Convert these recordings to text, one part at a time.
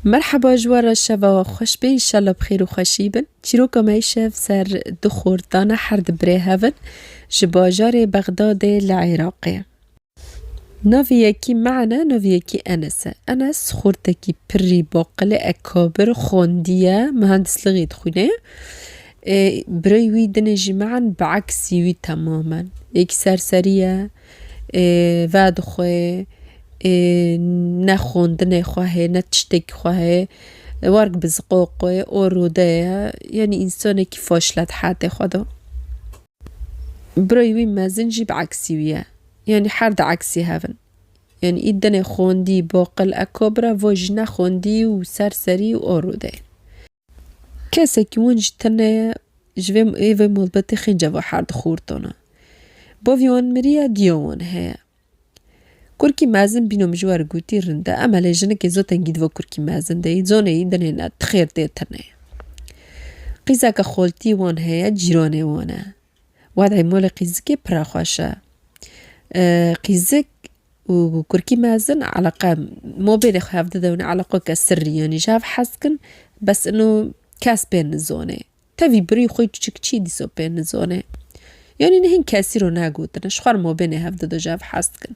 Merheba ji we re şeva we xweş be înşallah bi xêr û xweşî bin. Çîroka me îşev ser du xort dane her di birê hev in ji bajarê Bexdadê li Iraqê. Navê yekî Me'en e navê yekî Enes e. Enes xortekî pirrî baqilê ekabir xwendiye mihendislighî dixwîne. Birayê wî dinê jî Me'en bi eksî wî temamen. Yekî serserî ye. vedixwe ê ne xwendinê xwe heye ne tiştekî xwe heye werg bi ziqoqê o rûde ye yanî însanekî faşle di hetê xwe de birayê wî mezin jî bi eksî wî ye yanî her di eksî hev in yanî î dinê xwendî baqil ekabira vo jî ne xwendî û serserî o rûde ye. Kesekî win jî tune ye, ji vê ê vê malbatê xîn ceva her dixwur tune. Bavê wan miriye, diya wan heye. Kurkî mezin bîno min ji we re gotî rind e, em elê jinikê zotengî di vo kurkî mezin de yî, zonê yî dinê ne, ti xêr dê tune. Qîzeke xoltî wan heye, cîranê wan e. Wadê molê qîzikê pira xweş e. Qîzik û kurkî mezin eleqe mobêlê xwe hev dide û eleqo ke sirrî yanî ji hev hez dikin bes ino kes pê nizonê. Tevî birî xwe çiçik çî dîso pê nizonê. Yanî nihin kesî ro ne gotine ji xwe re mobênê hev dido ji hev hez dikin.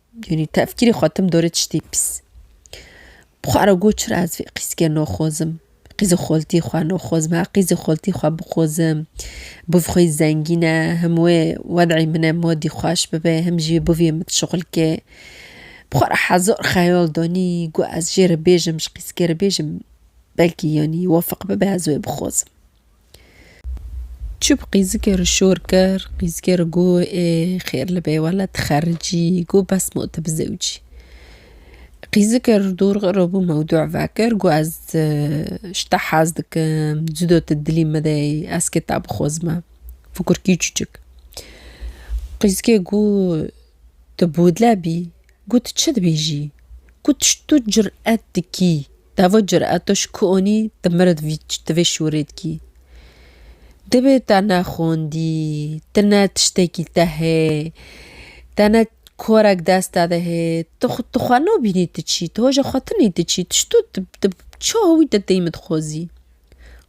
Yanî tefkîrê xwe tim dorê tiştê pîs. Bi xwe re got çira ez vê qîzikê noxozim, qîzê xoltiyê xwe noxozim, her qîzê xoltiyê xwe bixozim, bi vî xwe yî zengîn e, him wê wed'ê min e modî xweş bibe, him jî bi vî min şixul ke. Bi xwe re hezar xeyal danî, got ez jê re bêjim, ji qîzikê re bêjim, belkî yanî wefiq bibe ez wê bixozim. Çi bi qîzikê re şor kir, qîzikê re got ê xêr li bê wele tu xericî, got bes ma tu bi zewicî. Qîzikê re dor xirabû mewdû vekir, got ez ji te hez dikim, cuda tu dilî min de yî, ez kê te bixwazim e, fikurkî çûçik. Qîzikê got tu bûdle bî. Got çi dibêjî? Got ji tu curet dikî, devo cureto ji ku onî di mir di vê şûrê dikî. Dibê te ne xwendî, tu ne tiştekî te hê, te ne korek deste de hê, tu tu xwe nabînî tu çî, tu hoja xwe tinî tu çî, tu ji tu tu çawa wî te têmî dixwazî.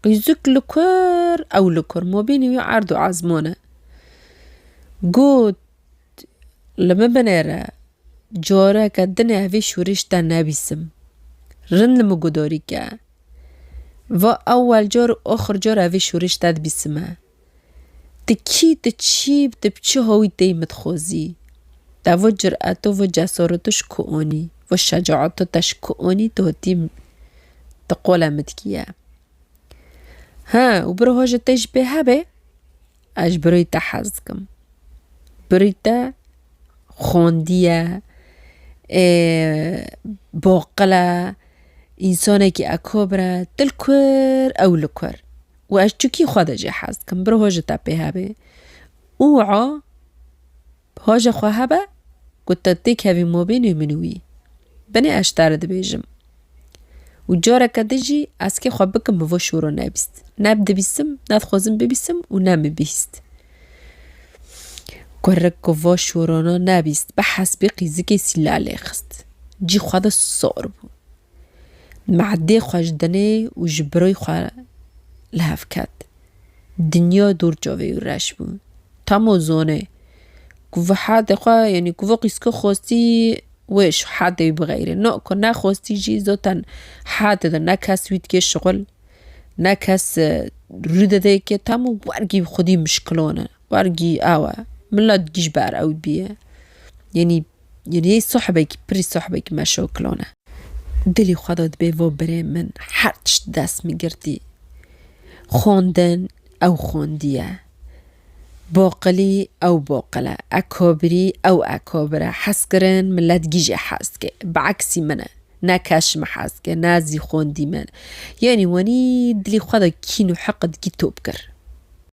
Qîzûk li kur ew li kur ma bênî wî erd û ezman e. Got Li min binêre, careke din ê vî şûrîş te nebîsim. Rind li min gudarî ke. Va ewel car û axir car e vî şûrîş te dibîsime. Ti kî, ti çî, ti bi çi hawî têyî min dixwazî? Te vê cureto, vê cesareto ji ku anî? Vê şecaeto te ji ku anî tu hatî ti qole min dikî ye? He û bir hoca te jî pê hebê? Ez ji birî te hez dikim. Birî te xwendiye, boqil e, însanekî ekabir e, dil kur ew li kur û ez çikî xwe de jê hez dikim. Bi ro ji te pê hebê û a. Paje xwe hebe ku te têkevî mabênê min û wî. Binê ez ji te re dibêjim. Û careke din jî ez kê xwe bikim bi vo şoro nebîst. Ne dibîsim, ne dixwazim bibîsim û ne min bihîst. Kurik ku va şorana nebîst bi hespê qîzikê sîla lê xist. Cî xwe de sar bû. Mehdê xwe ji dinê û ji birayê xwe li hev ket. Dinya dûr çavê û reş bû. Tamo zone ku vi hadê xwe yanî ku vi qîzke xwestî wê ji hadê wî bixeyre. No ku nexwestî jî zaten hadê de ne kes wî dike şixul, ne kes rû dide yekê tamo wergî xwedî mişkilan e. Wergî ew e. Milet gî ji ber ew bûye. Yanî Yanî sohbekî pirî sohbekî meşoklon e. Dilî xwe da dibê vo birê min her tişt di dest min girtî. Xwendin ew xwendiye. Boqilî ew boqil e. Ekobirî ew ekobir e. Hezkirin milet gîjê hez dike. Bi eksî min e. Ne keş min hez dike ne zî xwendî min. Yanî wanî dilî xwe da kîn û hiqid gî top kir.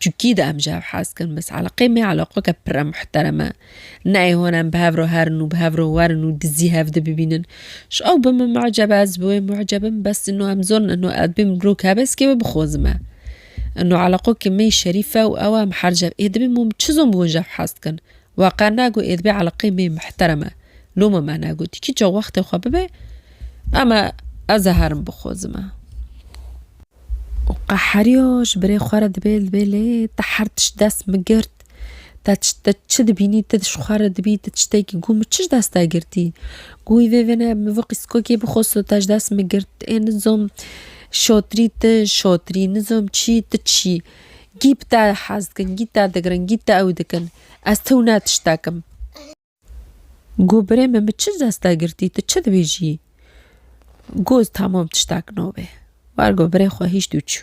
Çikî de em ji hev hez kirin bes eleqê me eleqeke pir e muhterem e. Neyê hûn em bi hev re herin û bi hev re werin û dizî hev de bibînin. Ji ew be min mu'ceb e ez bi wê mu'ceb im bes ino em zor in ino ez bêm rok hebe ez kê wê bixwezim e. Ino eleqeke me şerîf e û ew e em hercev ê dibin wan çi zom bi wan ji hev hez dikin. Wa qar nagot ê dibe eleqê mê muhterem e. Loma me negotî. Kîçe wextê xwe bibe eme ez ê herim bixozime. Û qeheriya ji birê xwe re dibêl dibê lê te her tişt dest migirt. Te te çi dibînî tu ji xwe re dibî tu tiştekî got min çi ji dest te girtî? Got wî vê vê ne min vê qîskokê bixozo te ji dest min girt. Ê nizom şatirî tu şatirî nizom çî tu çî. Gîp te hez dikin, gît te digirin, gît te ew dikin. Ez tew ne tiştek im. Got birê min min çi dest te girtî, tu çi dibêjî? Got tamam tiştek nabê. War got birê xwe hîşt û çû.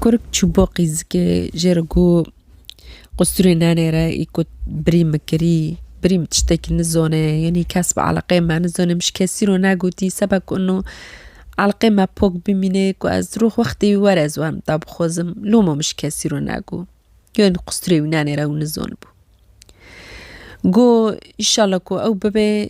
Kurk çû bo qîzikê jê re got. Qusturê nenê re î ku birî min kirî, birî min tiştekî nizone yên î kes bi eleqeyê me nizone min ji kesî re negotî seba ku ino eleqeyê me pok bimîne ku ez di rûx wextê wî were ez werim da bixwazim loma min ji kesî re nego. Yên qusturê wî nenê re ew nizon bû. Got, Înşallah ku ew bibe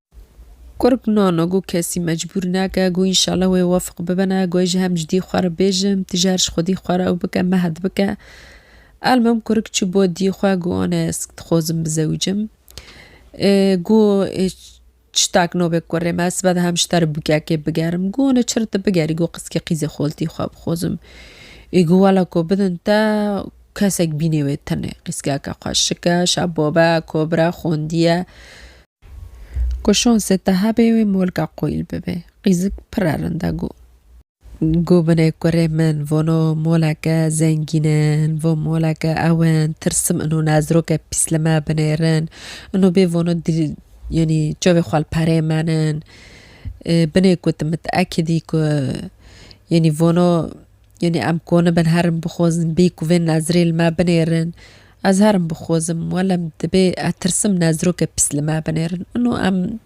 Kurg nano got kesî mecbûr nake, got înşala wê wefiq bibine, got ez ji hev cidî xwe re bêjim, tu jî her ji xwedî xwe re ew bike mehed bike. Elmam kurg çû bo diyê xwe, got anê ez dixwazim bizewicim. Got çitak nobê kurê me, ez sibe dihem ji te re bûkekê bigerim. Got anê çi re tu bigerî, got qizkê qîzê xoltî xwe bixwazim. Ê got wela ku bidin te kesek bînê wê tenê qîzkeke xwe şike, şa bobe, kobire, xwendiye. Ku şansê te hebê wê molka qoyîl bibe. Qîzik pire rind e got. Got binê kurê min vano moleke zengîn in, vo moleke ew in, tirsim ino nezroke pîs li me binêrin. Ino bê vano yanî çavê xwe li perê me nin. Binê gotim min te ekidî ku yanî vano Yanî em koni bin herim bixwazin bê ku vê nezirê li me binêrin. Ez herim bixwazim welem dibê ez tirsim nezirokê pis li me binêrin. Ino em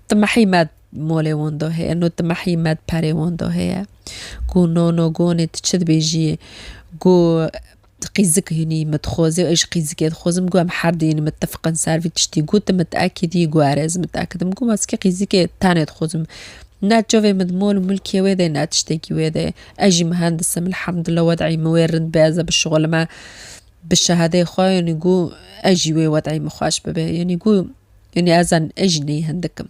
timehî me molê wan de heye, no timehî me di perê wan de heye. Ku no no gonê tu çi dibêjiyê? Ku Ti qî zik hîn î min dixwazî û ez jî qî zikê dixwazim got em her duyîn mitefiqin ser vî tiştî got tu mitekîdî got erê ez mitekîdim got ez qî zikê tenê dixwazim ne çavê min di mol û milkê wê de ne tiştekî wê de ez jî mihendis im elhamdullah wed'î min wê rind be ez ê bişixulime bi şehadeyê xwe yanî got ez jî wê wed'î min xweş bibe yanî got yanî ez ez jî neyê hindik im.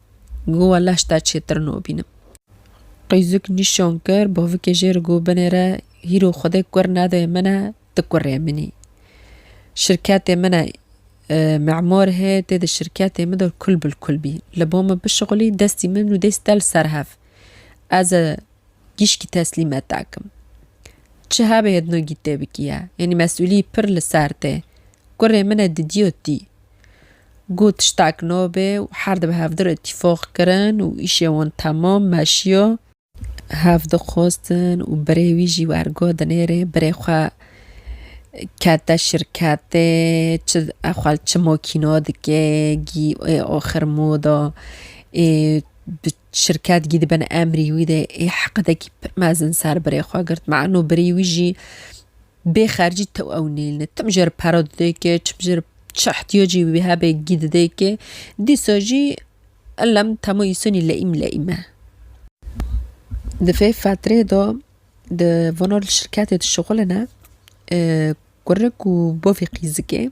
Go we leş te çêtir nobînim. Qîzik nîşan kir bavikê jê ri go binê re hîro xwedê kur nedê min e ti kurê min î. Şirketê min e mimar hê tê di şirketê min de kul bil kul bî. Li ba min bişixulî destî min û dêst te li ser hev. Ez e gîşkî teslîmet dakim. Çi hebê hêdnogî tê bikî ye. Yanî mesûlî pir li ser tê. Kurê min e didîyo tî. Got tiştek nabe û her dibe hevdî re îtîfaq kirin û îşê wan temam meşiya. Hev dixwestin û birê wî jî werga dinêrê birê xwe kete şirketê çi xwe li çi makîna dike gî ê axir moda ê bi şirket gî dibin emrî wî de ê heqdekî pir mezin ser birê xwe girt meno birî wî jî Bê xercî tew ew nêlne. Tim jê re para dide ke çim jê re çi ihtiyacî wî hebe gî dide ke dîsa jî elem tama îsanî leîm leîm e. Di vê fetreyê de di vana şirketê dişixulin e, kurik û bavê qîzikê.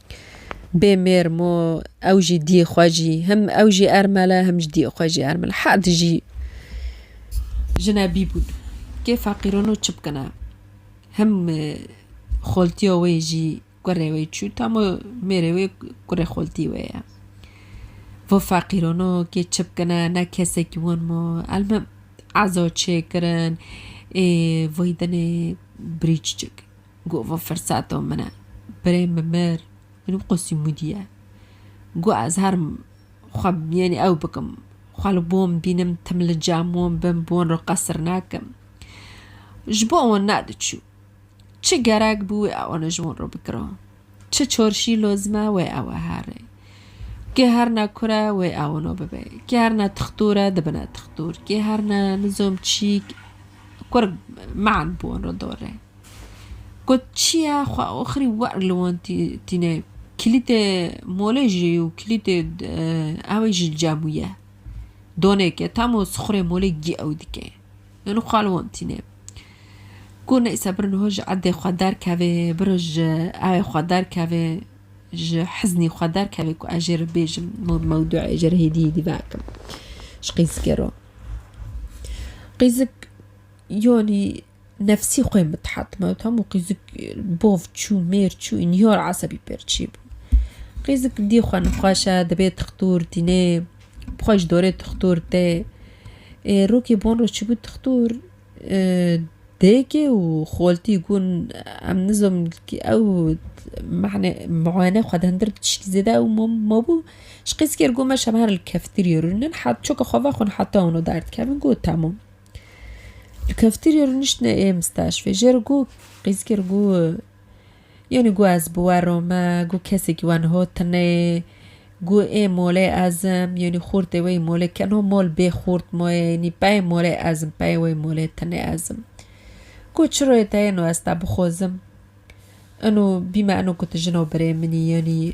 Bê mêr mo ew jî diyê xwe jî him ew jî ermel e him ji diyê xwe jî ermel herd jî jine bî bûn kê feqîrono çi bikine him xoltiya wê jî kurê wê çû tamo mêrê wê kurê xoltî wê ye vo feqîrono kê çi bikine ne kesekî wan mo elmim ezo çêkirin ê vay dinê birî çiçik. Got vê firseto min e. Birê min mir, min wî qûsî mûdiye. Got ez herim xwe bi mîyanê ew bikim. Xwe li bon bînim, tim li cem wan bim, bi wan re qesir nakim. Ji bo wan nediçû. Çi gerek bû wê ew ne ji wan re bikiro. Çi çorşî lozim e wê ew e herê. Kê her ne kur e wê ew no bibe. Kê her ne tixtur e dibine tixtur. Kê her ne nizom çîk kur, man bi wan re dor e. Got çiya xwe oxirî wer li wan tîne. Kilîtê molê jî û kilîtê ewê ji cem û ye. Donêke tamo sixurê molê gî ew dike. Yan xwe li wan tîne. Got neyse biro niha ji erdê xwe derkevê biro ji ewê xwe derkevê ji hiznî xwe derkevê ku ez jê re bêjim mewduê jê re hêdî hêdî veakim ji qîzikê re. Qîzik yanî Nefsî xwe mithat me û tam û qîzik bov çû, mêr çû û nîhor esebî pêr çî bû. Qîzik dî xwe nixweşe, dibê tixtûr tînê, bi xwe ji dorê tixtûr tê. Ê rokê bon re çûbû tixtûr dêkê û xoltî gun em nizom ew mehne muayene xwe di hindir di tişkî zêde ew mabû. Ji qîzikê re got me şevan li keftirîyê rûnin. Niha çoka xwe ve xwe nihata wino derdikevin got temam. Li keftirê rûniştine ê misteşfê jê re got, qîzkir got, Yanî got ez bi we re me, got kesekî we niha tune ye, got ê molê ez im, yanî xortê we yî molê ke niha mol bê xort ma ye, yanî peyê molê ez im, peyê we yî molê tune ez im. Got çiro ye te êno ez te bixwazim, êno bîme êno ku tu jina birê min î yanî.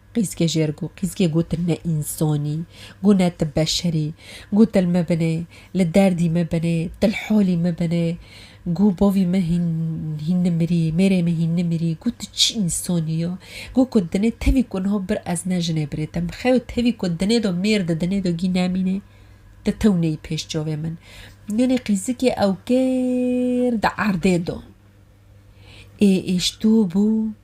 Qîzkê jê re ku qîzkê gotin ne însanî, ku ne tu beşerî, ku til me binê, li derdî me binê, til halî me binê, ku bavî min hîn hîn nimirî, mêrê min hîn nimirî, ku tu çi însanî ya, ku ku dinê tevî ku niha bir ez ne jinê birê te min xeyo tevî ku dinê do mêr di dinê do gî nemînê, tu tewneyî pêş çavê min. Yanê qîzikê ew kêr di erdê do ê êştûbû.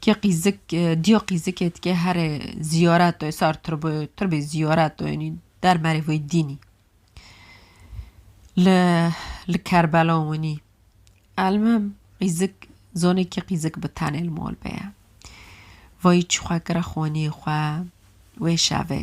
Ke qîzik diyo qîzikê dike herê zîyareto sar tirbo tirbê zîyareto yenî der merê vê dînî. Li li Kerbela winî. Elmim qîzik zonê ke qîzik bi tenê li mal be ye. Vayî çi xwe kira xwenîyê xwe wê şevê.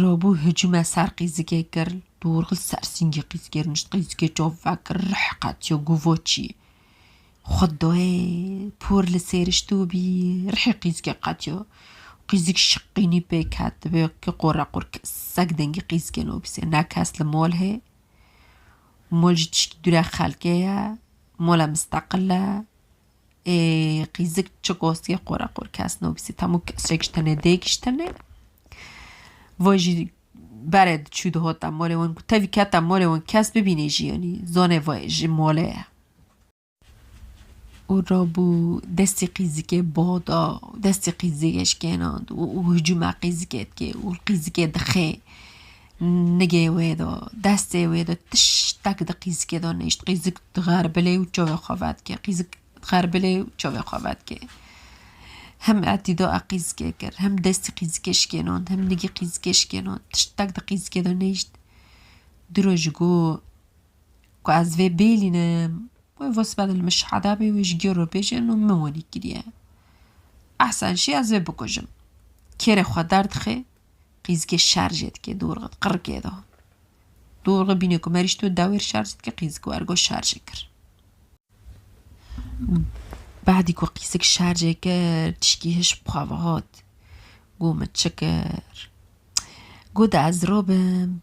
Rabû hicûme ser qîzikê kir, dorxist ser sîngê qîzikê rûnişt, qîzikê çav vekir, rih qetiya gova çî xwe dayê, por li sêr şitibûbî, rihê qîzikê qetiya, qîzik şiqînî pêk ket, dibe ke qoreqor kesek dengê qîzikê nabise, ne kes li mal hê, mal jî tiştî dûre xelkê ye, mala misteqil e, Ê qîzik çi qosiyê qora qor kes nobîsî tamo kesek ji tenê dê giştene. Voy jî berê diçû dihota molê wan ku tevî keta molê wan kes bibînê jî yanî zonê voy ji mole ye. Û rabû destê qîzikê bo da û destê qîzikê şikênand û hicûme qîzikê dikê û qîzikê dixê. Nigê wê do, destê wê do tiştek di qîzikê do nîşt. Qîzik dixerbilê û çavê xwe vedikê. Qîzik dixerbilê û çavê xwe vedikê. Him etî do e qîzikê kir. Him destî qîzikê şikênon. Him nigî qîzikê şikênon. Tiştek di qîzikê do nîşt. Di roj ji go ku ez vê bêlînim. Wê vos bedil min şehada bê wê ji gê re bêje no min wenî kiriye. Ehsen şî ez vê bikujim. Kêrê xwe derdixê. qîzikê şer jê dikê dorxe qirikê de. Dorxe bîne ku merîş tu dewêr şer jê dikê qîzik û ergo şer jê kir. Badî ku qîzik şer jê kir tişkî hiş bi xwe ve hat. Got min çi kir? Got ez robim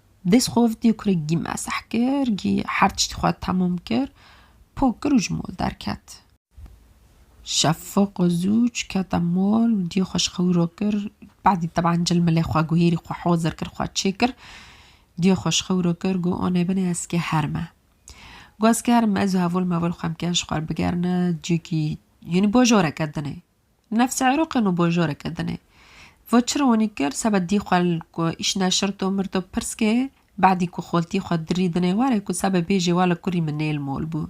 Dest xov dî kurê gî meseh kir, gî her tiştî xwe temam kir, pok kir û ji mol derket. Şefiq zû çikete mol û dî xwe ji xwe wiro kir, badî teban cilmilê xwe guhîrî xwe hozir kir, xwe çê kir, dî xwe ji xwe wiro kir, got anê binê ez kê herim e. Got ez kê herim e, ez û hevol mevol xwe em kê ji xwe re bigerine cihekî, yanî bajoreke din ê, Nefs Îroqê no bo joreke din e. Vo çi ronî kir seba dî xwe li ku îşna şirto mirto pirs kê, bedî ku xoltî xwe dirî dinê warê ku seba bêjê wala kurî min nêl mol bû.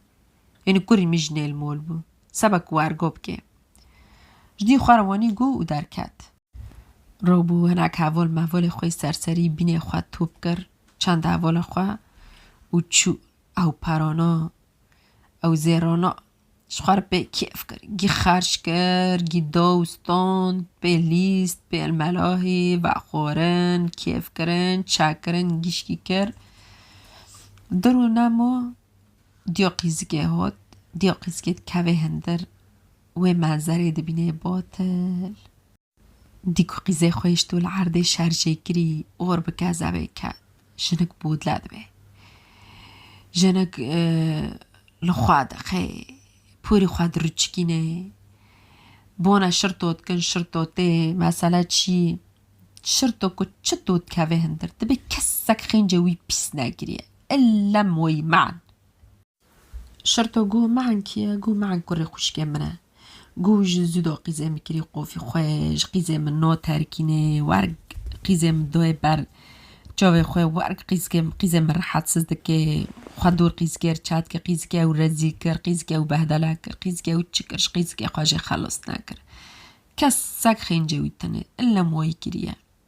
Yanî kurî min jî nêl mol bû. Seba ku wergo bikê. Ji dî xwe re wanî gû û derket. Ro bû hinek hevol mevolê xwe serserî bînê xwe top kir, çend hevola xwe û çû. Ew perana. Ew zêrana. Ji xwe re pê kêf kir. Gî xerç kir, gî daw stand, pê lîst, pê elmelahî, vexwarin, kêf kirin, çekirin, gîşkî kir. Di rû nemo diya qîzikê hat. Diya qîzikê dikeve hindir. Wê menzerê dibîne batil. Dî ku qîzê xwêşto li erdê şerjê kirî or bi kezebê ket. Jinik bûdle dibe. Jinik li xwe dixe. Pûrî xwe diruçikîne. Bone şirto dikin şirto tê mesele çî şirto ku çito dikeve hindir dibe kesek xêncê wî pîs nekiriye. Illem wî man. Şerto gû mean kî ye? Gû mean kurê xwişkê min e. Gû ji zûdo qîzê min kirî qofî xwe, ji qîzê min no terkînê, werg qîzê min doyê ber çavê xwe, werg qîzkê qîzê min rehetiz dikê, xwe dûr qîzkê re çat kir, qîzkê ew rezîl kir, qîzkê ew behdela kir, qîzkê ew çi kir, ji qîzkê xwe jê xelas nekir. Kesek xêncê wî tune, illem wayî kiriye.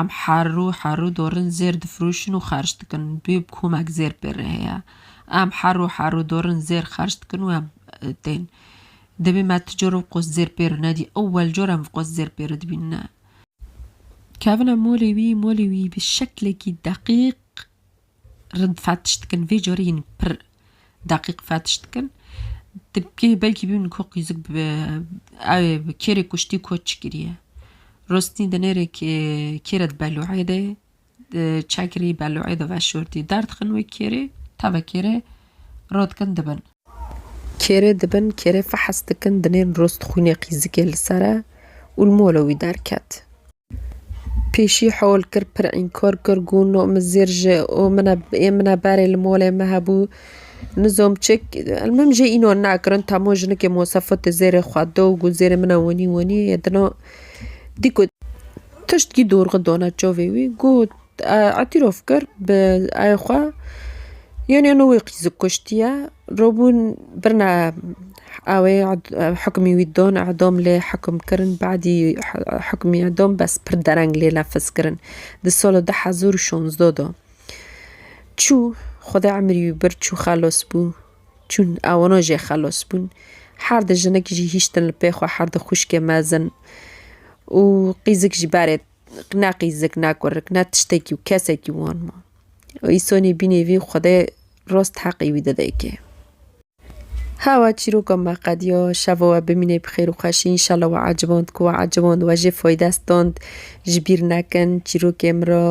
Em her rû her rû dorin zêr difirûşin û xerc dikin. Duyê bi komek zêr pê re heye. Em her rû her rû dorin zêr xerc dikin û em tên. Divê me ti cor vqos zêr pê re nedî ewel cor em vqos zêr pê re dibînine. Kevine molê wî, molê wî bi şeklekî deqîq rind fetiş dikin vê carê hîn pir deqîq fetiş dikin. Ti kê belkî bînin ku qîzik bi ew ê bi kê re kuştî koç kiriye. Rostî di nêrê kê kê re di beloê de çekirî beloê de veşortî derdixin wê kê rê tevekê rê rot dikin dibin. Kêrê dibin, kêrê fehes dikin, dinên rost xwînê qîzikê li ser e û li mola wî derket. Pêşî hewl kir, pir înkar kir, got, No min zêr ji o min e, ê min e berê li molê me hebû. Nizom çik, elmim jê înan nakirin, tamo jinikê Mosafotê zêrê xwe da û got, Zêrê min e wenî wenî, yê dina. Dîko tişt kî dorxi dana çavê wî, got. îtîrof kir bi ayê xwe yênê nû wê qîz kuştiye robûn birna awê hikmî wî don edom lê hekum kirin badî hikmî edom bes pir dereng lê nefiz kirin di sola du hezar û şonzdo de çû xwedê emirî wî bir çû xelos bû çûn ewano jê xelos bûn her di jinekî jî hîştin li pê xwe her di xwişkê mezin û qîzik jî berê Rikna qîzik nako, rikna tiştekî û kesekî wan ma. Îsonî bînê vî û Xwedê rost heqî wî dide yekê. Hawa çîroka me qediya, şeva we bimînê bi xêr û xweşî, înşallah we eciband ku we eciband we jê fayde stand, ji bîr nekin, çîrokê min re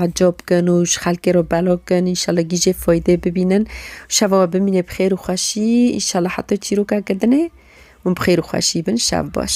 ecab kin û ji xelkê re belav kin, înşallah gî jê faydê bibînin. Şeva we bimînê bi xêr û xweşî, înşallah heta çîrokeke din ê hûn bi xêr û xweşî bin, şev baş.